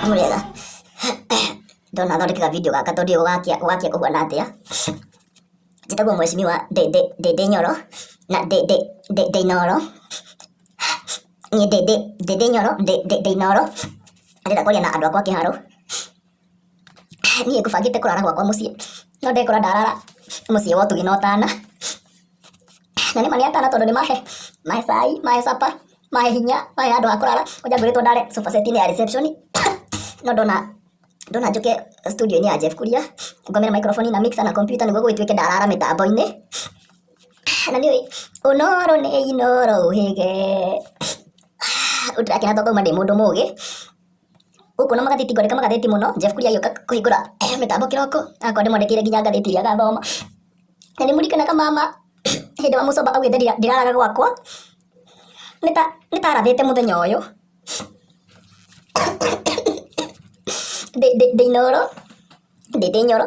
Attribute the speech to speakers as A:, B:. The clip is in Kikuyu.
A: Mũrĩega. Ndona thondekaga video gaka tondũ ũgakia ũgakia kũhuana atĩa? Njĩtagwo mheshimiwa ndĩ ndĩ ndĩ ndĩ nyoro na ndĩ ndĩ ndĩ ndĩ inoro. Niĩ ndĩ ndĩ ndĩ ndĩ nyoro ndĩ ndĩ ndĩ inoro. Ndĩrenda kwaria na andũ akwa kĩharo. Niĩ ngũbangĩte kũrara gwakwa mũciĩ, no ndekora ndarara mũciĩ wa ũtugi na ũtana. Na nĩma nĩ atana tondũ nĩmahe, mahe cai, mahe supper, mahe hinya, mahe handũ ha kũrara, kwanja ngorĩtwo ndare sofa set inĩ ya reception, no ndona, ndona njũke studio inĩ ya Jeff Kuria, ngomere microphone na mixer na kompiuta nĩguo gũgĩtuĩke ndarara mĩtambo-inĩ. Na nĩũĩ, ũnoro nĩ inoro ũhĩge, rĩu ndĩrakena tondũ ngauma ndĩ mũndũ mũgĩ. Gũkũ na magathĩti ngwandĩka magathĩti mũno, Jeff Kuria agĩũka kũhingũra mĩtambo kĩroko, agakorwo ndĩmwandĩkĩire nginya ngathĩti iria agathoma. Na nĩmũririkanaga mama hĩndĩ ĩrĩa mũcomba augĩte ndiraraga gwakwa, nĩta nĩtarathĩte mũthenya ũyũ ndĩ ndĩ ndĩ inooro, ndĩte inyoro.